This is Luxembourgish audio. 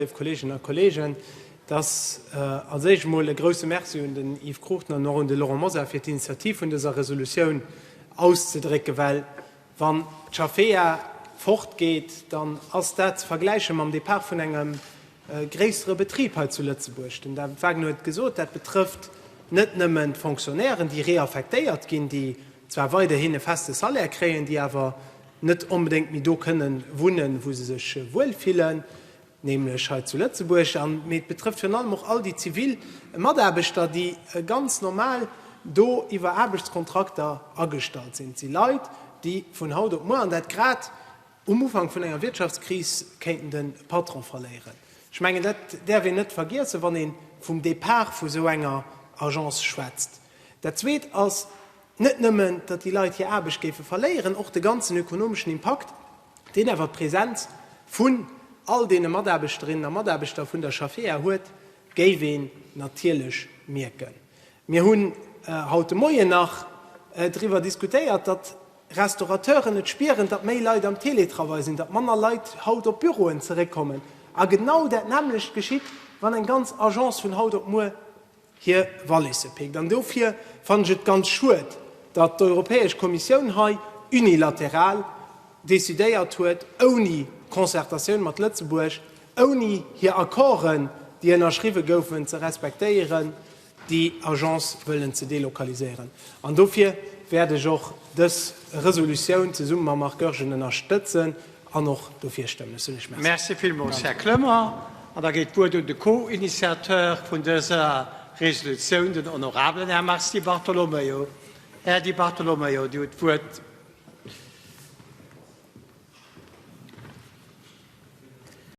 Léif Kolleeginnen a Kolleegen, et ass als Éischt emol e grouse Merci un den Yves Cruchten an och un de Laurent Mosar fir d'Initiativ vun dëser Resolutioun auszedrécken, well wann d'Jafea fortgeet, dann ass dat ze vergläiche mam Depart vun engem gréissere Betrib hei zu Lëtzebuerg. Den David Wagner huet et gesot, dat betrëfft net nëmmen d'Fonctionnairen, déi reaffektéiert ginn, déi zwar weiderhin e feste Salaire kréien, déi awer, net onbedéngt méi do kënnen wunnen, wou se sech wuel fillen, nämlech hei zu Lëtzebuerg, an mee et betrëfft virun allem och all déi zivil Mataarbechter, déi ganz normal do iwwer Aarbechtskontrakter agestallt sinn. Et si Leit, déi vun haut op muer, an dat grad um Ufank vun enger Wirtschaftskris, kéinten de Patron verléieren. Ech mengen, dat däerf een net vergiessen, wann ee vum Depart vu sou enger Agence schwätzt. Dat Zweet ass net nëmmen, datt déi Leit hir Aarbecht géife verléieren, och de ganzen ökonomeschen Impakt, deen awer d'Presenz vun all deene Mataarbechterinnen a Mataarbechter vun der Schaffea huet, géif een natierlech mierken. Mir hunn haut de Moien nach driwwer diskutéiert, datt Restaurateuren et spieren, datt méi Leit am Teletravail sinn, datt manner Leit haut op d'Büroen zeréckkommen. A genau dat nämmlecht geschitt, wann eng ganz Agence vun haut op muer hir Wallisse pickt. An dofir fannen ech et ganz schued, datt d'Europäesch Kommissioun hei unilateral decidéiert huet, ouni Concertatioun mat Lëtzebuerg, ouni hir Accorden, déi ënnerschriwwe goufen, ze respektéieren, déi Agence wëllen ze delokaliséieren. An dofir wäert ech och dës Resolutioun zesumme mam Marc Goergen ënnerstëtzen. An och dofir stëmmen. Ech soen Iech Merci. Merci villmools, Här Clement. An da geet d'Wuert un de Co-Initiateur vun dëser Resolutioun, den honorabelen Här Mars Di Bartolomeo. Här Di Bartolomeo, Dir hutt d'Wuert.